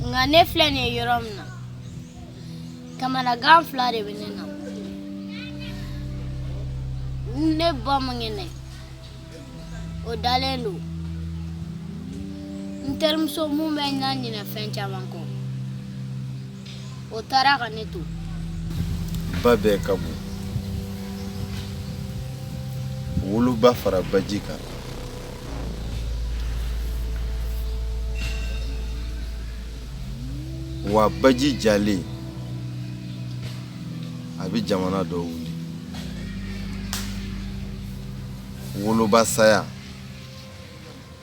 nka ne filɛ nin ye yɔrɔ min na kamanagan fila de bɛ ne na ne ba man kɛnɛ o dalen don n terimuso mun bɛ n na ɲinɛ fɛn caman kɔ o taara ka ne to ba bɛɛ ka bon woloba fara baji kan wa baji jalen a bɛ jamana dɔ wuli woloba saya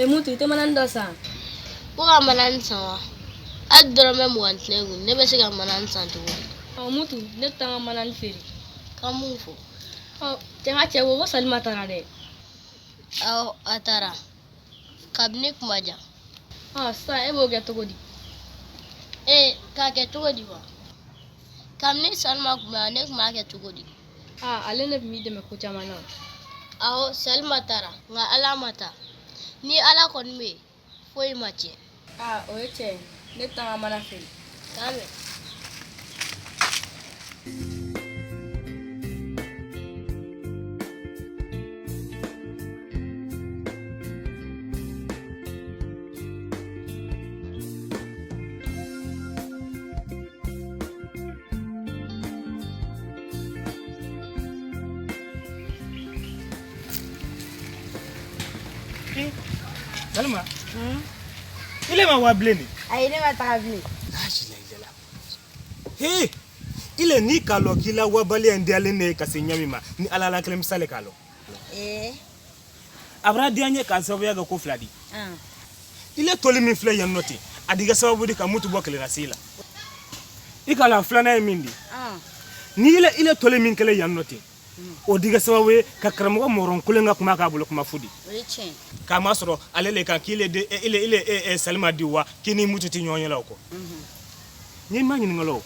e mutu i tɛ manan dɔ san ko ka manan san wa hali dɔrɔmɛ mugan tɛ ne kun ne bɛ se ka manan san cogo di ɔ mutu ne bɛ taa n ka manan feere ka mun fɔ ɔ cɛ n ka cɛ ko ko salima taara dɛ awɔ a taara kabini kuma jan ɔ sisan e b'o kɛ cogo di ee k'a kɛ cogo di wa kabini salima tun bɛ yan ne tun b'a kɛ cogo di aa ale ne tun b'i dɛmɛ ko caman na awɔ salima taara nka ala ma taa ni ala kɔni bɛ yen foyi ma tiɲɛ aa o ye tiɲɛ ye ne taa n ka mana feere k'a mɛn Salima i le ma waa bilen de ayi ne ma taga bilen lasilajala he i le ni k'a lɔn k'i la wabaliya in diyalen ne ye ka se ɲa min ma ni ala le kelen bi se le k'a lɔn ee a bara diya n ye k'a sababuya kɛ ko fila di i le toli min filɛ yan nɔ ten a di kɛ sababu di ka mutu bɔ kelennasii la i k'a lɔn filanan ye min di ni i le toli min kɛlen yan nɔ ten o di kɛ sababu ye ka karamɔgɔ mɔrɔn kelen ka kuma kɛ bolo kuma fu di k'a masɔrɔ ale le kan k'i le salima di wa k'i ni mutu tɛ ɲɔgɔn ye o kɔ Ni ma ɲinin k'a lɔn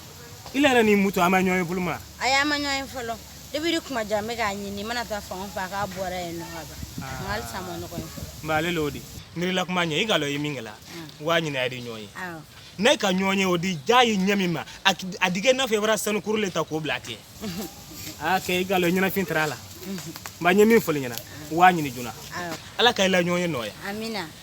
i yɛrɛ ni mutu a ma ɲɔgɔn ye fɔlɔ ma a y'a ma ɲɔgɔn ye fɔlɔ de bɛ kuma jan bɛ k'a ɲini mana taa fan faa k'a bɔra ye ɲɔgɔn'alelo de nla kuma ɲɛ i k'a lɔn i ye min kɛ la waa ɲini a di ɲɔgɔn ye n'a ka ɲɔgɔn ye o di diya i ye ɲa min ma a di kɛ i n'a fɔ i bara sanukurun de ta k'o bila tɛ aa kɛ i k'a lɔn i ɲɛnafin tɛrɛ a la nka ɲɛ min fɔ la i ɲɛna waa ɲini joona ala ka i la ɲɔgɔn ye nɔɔya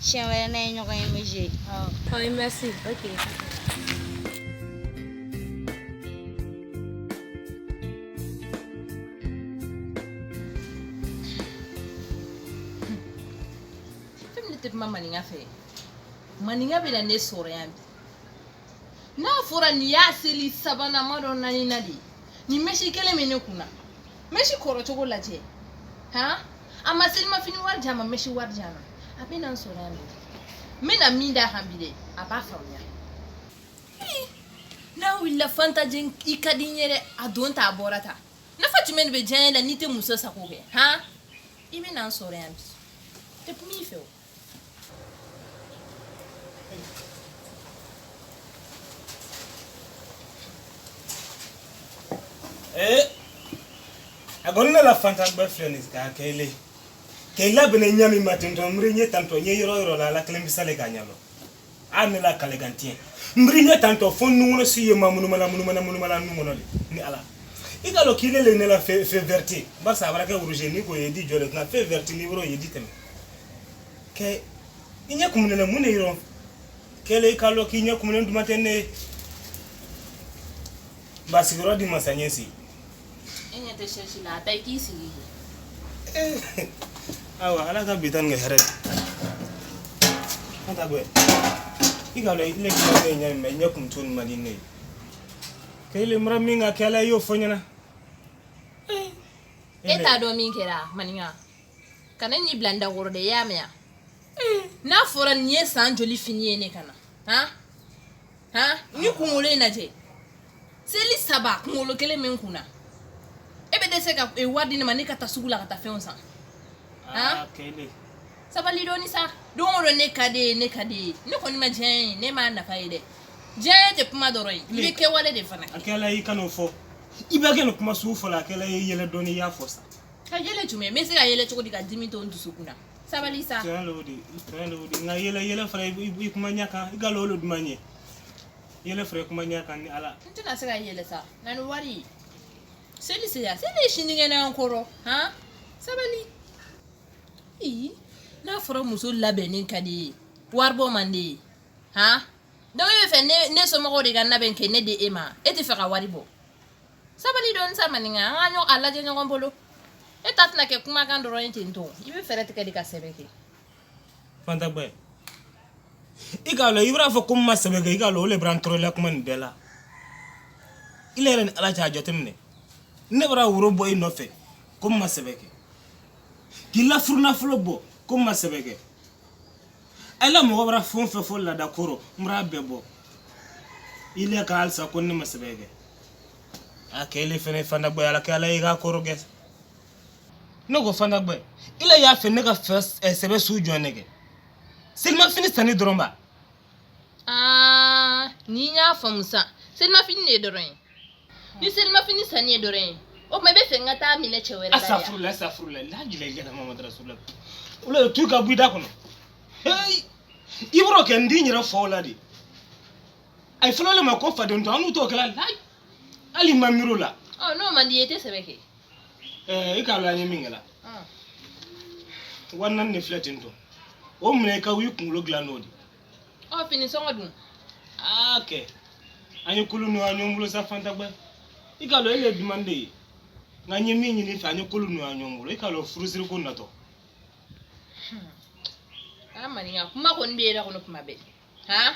Siɲɛ wɛrɛ n'an ye ɲɔgɔn ye bɛ jɛ ɔ merci ok ne tɛ kuma maninka fɛ maninka bɛ na ne sɔrɔ yan bi n'a fɔra nin y'a seli sabanan ma dɔ naaninan de nin mɛsi kelen bɛ ne kun na mɛsi kɔrɔ cogo lajɛ han a ma selimafini wari di a ma mɛsi wari di a ma a bɛ na n sɔrɔ yan n bɛna min d'a kan bi dɛ a b'a faamuya n'a wulila Fanta i ka di n ye dɛ a don ta a bɔra ta nafa jumɛn de bɛ diyanye la n'i tɛ muso sago kɛ han i bɛ na n sɔrɔ yan bi tɛ kuma i fɛ o Eh, a ko ne la Fanta bɛ filɛ nin k'a kɛ ile k'i labɛn ɲa min ma ten tɔ mure ɲɛ tantɔ ɲɛ yɔrɔ yɔrɔ la ala kelen bisa le k'a ɲa lɔn a ne la kalekan tiɲɛ nbiri ne tantɔ fo nun kɔnɔ si ye mamunumunu na nun kɔnɔ de ni ala i k'a lɔn k'ile le ne la feu vert di barisa a bara kɛ rouge ni ko ye di jɔ le ne la feu vert ni yɔrɔ ye di tɛmɛ kɛ i ɲɛ kumunen la mun de yɔrɔ kɛlɛ i k'a lɔn k'i ɲɛ kumunen duman tɛ ne ye ba sigiyɔrɔ di n ma sa n ye si e ɲɛ tɛ sɛsi la a taa i k'i sigi awa ala ka bi tan ni hɛrɛ an ta bɛɛ i k'a lɔn ne kuma bɛ ɲɛ mɛ ɲɛ kumu tun man di ne ye kele mura min ka kɛ la i y'o fɔ n ɲɛna e t'a dɔn min kɛra maninka kana n'i bila n dakɔrɔ dɛ i y'a mɛn n'a fɔra nin ye san joli fini ye ne kan na han han nin kunkolo in lajɛ seli saba kunkolo kelen bɛ n kun na e bɛ dɛsɛ ka e, wari di ne ma ne ka taa sugu la ka taa fɛnw san han sabali dɔɔni sa don o don ne ka d'i ye ne ka d'i ye ne kɔni ma diyanye ye ne m'a nafa ye dɛ diyanye tɛ kuma dɔrɔn ye i bɛ kɛwale de fana kɛ a kɛla i kan'o fɔ i bɛ kɛ nin kuma sugu fɔ la a kɛla i yɛlɛ dɔɔni i y'a fɔ sa ka yɛlɛ jumɛn n bɛ se ka yɛlɛ cogo di ka dimi to n dusukun na sabali sa tiɲɛ l'o di tiɲɛ l'o di nka yɛlɛ yɛlɛ fara i kuma ɲɛ kan i k'a lɔn o le duman n ye yɛlɛ fara i kuma ɲɛ kan ni ala n tɛna se ka yɛlɛ sa na ni wari seli sera seli ye sinikɛnɛ an kɔrɔ han sabali ii n'a fɔra muso labɛnnen ka d'i ye wari bɔ man d'i ye han donc e b'a fɛ ne somɔgɔw de ka n labɛn ka ne di e ma e t'a fɛ ka wari bɔ sabali dɔn sa maninka an ye a lajɛ ɲɔgɔn bolo e ta tɛna kɛ kumakan dɔrɔn ye ten tɔ i bɛ fɛɛrɛ tigɛ de ka sɛbɛ kɛ fantagbɛ i k'a lɔn i bar'a fɔ ko n ma sɛbɛ kɛ i k'a lɔn o le b'an tɔɔrɔla kuma nin bɛɛ la ile yɛrɛ ni ala cɛ a jateminɛ ne bara woro bɔ i nɔfɛ ko n ma sɛbɛ kɛ k'i la furunafolo bɔ ko n ma sɛbɛ kɛ ala mɔgɔ bara fɛn o fɛn fɔ laada ko rɔ n bar'a bɛɛ bɔ ile ka halisa ko ne ma sɛbɛ kɛ a kɛ ile fɛnɛ fantagbɛ ala kɛ ala y'i ka ko rɔgɛ ne ko fantagbɛ ile y'a fɛ ne ka fɛ ɛ, sɛbɛ su jɔn ne kɛ selimafini sanni dɔrɔn ba aa ni n y'a faamu sa selimafini de ye dɔrɔn ye ni selima fini sanni ye dɔrɔn ye o tuma i b'a fɛ n ka t'a minɛ cɛ wɛrɛ la yan asafurula asafurula lajila i kana mamadu rasulula o la tu ka bɔ i da kɔnɔ heyi i b'o kɛ n di n yɛrɛ fa o la dɛ a ye fɔlɔ le ma ko faden to annu t'o kɛla layi hali n ma miiri o la ɔ n'o man di i ye i tɛ sɛbɛ kɛ ɛɛ i k'a lɔn an ye min kɛla wa naani de filɛ ten tɔ o minɛ i ka wa i kunkolo dilan n'o di ɔ fini sɔngɔ dun aa kɛ an ye ko lu nɔgɔya ɲɔgɔn bolo sa fantagbɛ i k'a lɔn ile duman n ye nka n ye min ɲini i fɛ an ye ko lu nɔgɔya ɲɔgɔn bolo i k'a lɔn furusiri ko natɔ a maninka kuma kɔni bɛ yɛrɛ kɔnɔ kuma bɛɛ han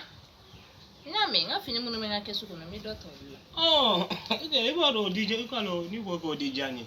n y'a mɛn n ka fini minnu bɛ n ka kɛsu kɔnɔ n bɛ dɔ ta olu la ɔ i kɛ i b'o don o di diya i k'a lɔn n'i ko k'o di diya n ye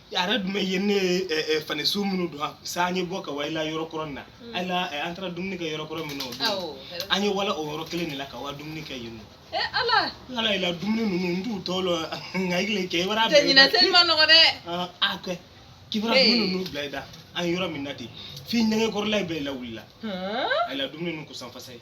yɛrɛ dun bɛ ye ne fani su minnu don sa an ye bɔ ka wala yɔrɔ kɔrɔ na an an taara dumuni kɛ yɔrɔ kɔrɔ min na an ye wala o yɔrɔ kelen de la ka wa dumuni kɛ yen ala ala la dumuni ninnu n t'u tɔ lɔn nka i kɛ i b'a nɔgɔ dɛ a kɛ k'i bara dumuni ninnu bila i da an yɔrɔ min na ten f'i nɛgɛkɔrɔla bɛɛ lawulila a la dumuni ninnu ko sanfasa ye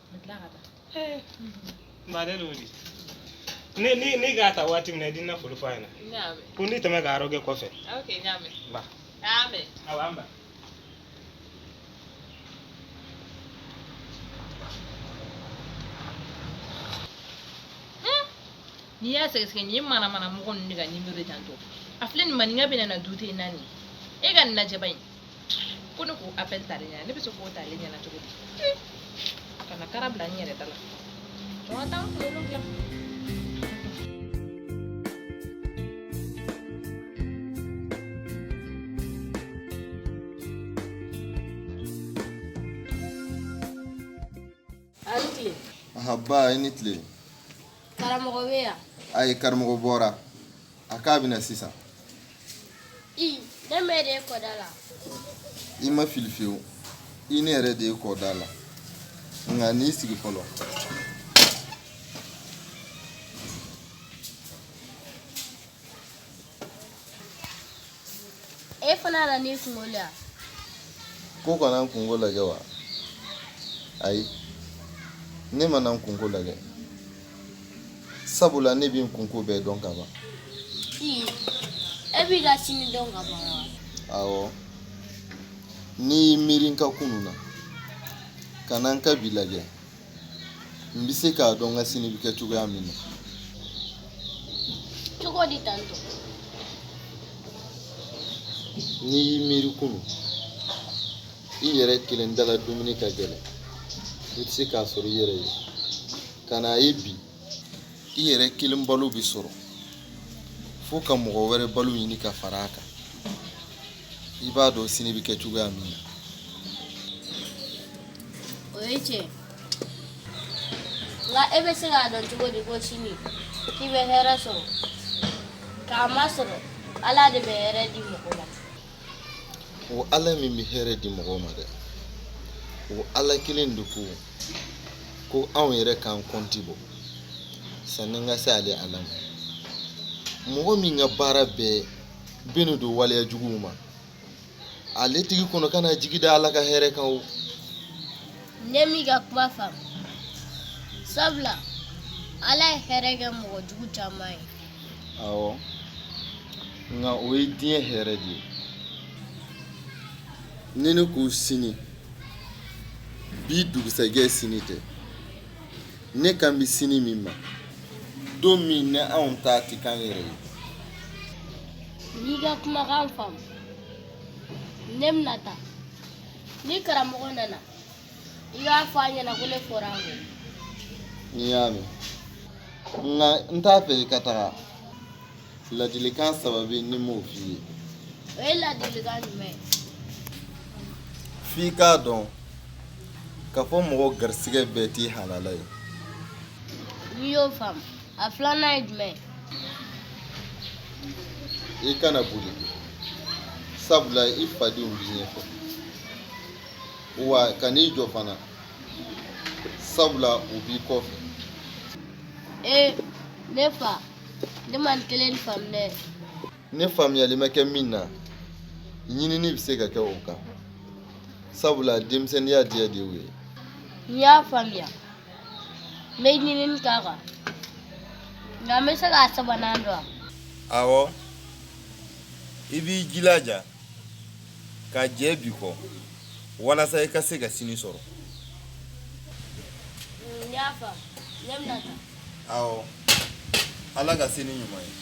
n baden le o di n'i k'a ta waati min na i di n na foli f'a ɲɛna Ɲaame. ko n di tɛmɛ k'a rɔgɛ kɔfɛ Ok, ɲaame. Ba. Ɲaame. awa an ba n'i y'a sɛgɛsɛgɛ nin ye mana mana mɔgɔ ninnu de ka nimero de ten tɔ a filɛ nin maninka bɛ na na dute naani e ka nin lajɛ ba in ko ne k'o appel t'ale ɲɛna ne bɛ se k'o t'ale ɲɛna cogo di kana kara bila n yɛrɛ da la jɔ n ka taa n kunkolo dilan A ni tile. Anhan nba i ni tile. Karamɔgɔ bɛ yan? Ayi karamɔgɔ bɔra. A k'a bɛ na sisan. I ne mɛ de e kɔda la. I ma fili fiyewu. I ne yɛrɛ de e kɔda la. Nka n'i sigi fɔlɔ. e fana nalen i kunko la ko ka na n kunko lajɛ wa ayi ne ma na n kunko lajɛ sabula ne bɛ n kunko bɛɛ dɔn ka ban e b'i ka sini dɔn ka ban wa awɔ n'i y'i miiri n ka kunu na ka na n ka bi lajɛ N bɛ se k'a dɔn n ka sini bɛ kɛ cogoya min na cogo di tan n'i y'i miiri kunu i yɛrɛ kelen dala dumuni ka gɛlɛn i tɛ se k'a sɔrɔ i yɛrɛ ye ka n'a ye bi i yɛrɛ kelen balo bɛ sɔrɔ fo ka mɔgɔ wɛrɛ balo ɲini ka fara a kan i b'a dɔn sini bɛ kɛ cogoya min na o ye tiɲɛ nka e bɛ se k'a dɔn cogo di ko sini k'i bɛ hɛrɛ sɔrɔ k'a masɔrɔ ala de bɛ hɛrɛ di mɔgɔ ma o ala min bɛ hɛrɛ di mɔgɔw ma dɛ o ala kelen de ko ko anw yɛrɛ k'an kɔnti bɔ sanni an ka se ale ala ma mɔgɔ min ka baara bɛɛ bɛnnen don waleya juguw ma ale tigi kɔni kana jigi da ala ka hɛrɛ kan o ne m'i ka kuma faamu sabula ala ye hɛrɛ kɛ mɔgɔ jugu caman ye awɔ nka o ye diɲɛ hɛrɛ de ye ni ne ko sini bi dugusɛjɛ sini tɛ ne kan bɛ sini min ma don min ni anw ta tɛ k'an yɛrɛ ye n y'i ka kumakan faamu ne bɛna taa ni karamɔgɔ nana I k'a fɔ a ɲɛ na ko ne fɔra a kɔ. N y'a mɛn. Nka n t'a fɛ i ka taga. Ladilikan saba bɛ ni n m'o f'i ye. O ye ladilikan jumɛn ye? F'i k'a dɔn k'a fɔ mɔgɔ garisigɛ bɛɛ t'i halala ye. N y'o faamu, a filanan ye jumɛn ye? I kana boli sabula i fadenw b'i ɲɛfɛ. wa kan'i jɔ fana sabula u b'i kɔfɛ ee ne fa ne ma nin kelen faamu dɛ ne faamuyali ma kɛ min na ɲinini bɛ se ka kɛ o kan sabula denmisɛnninya diya de y'o ye n y'a faamuya n bɛ ɲinini k'a kan nka n bɛ se k'a sabanan dɔn wa awɔ i b'i jilaja ka jɛ bi kɔ walasa i ka se ka sini sɔrɔ wala ka sini ɲuman ye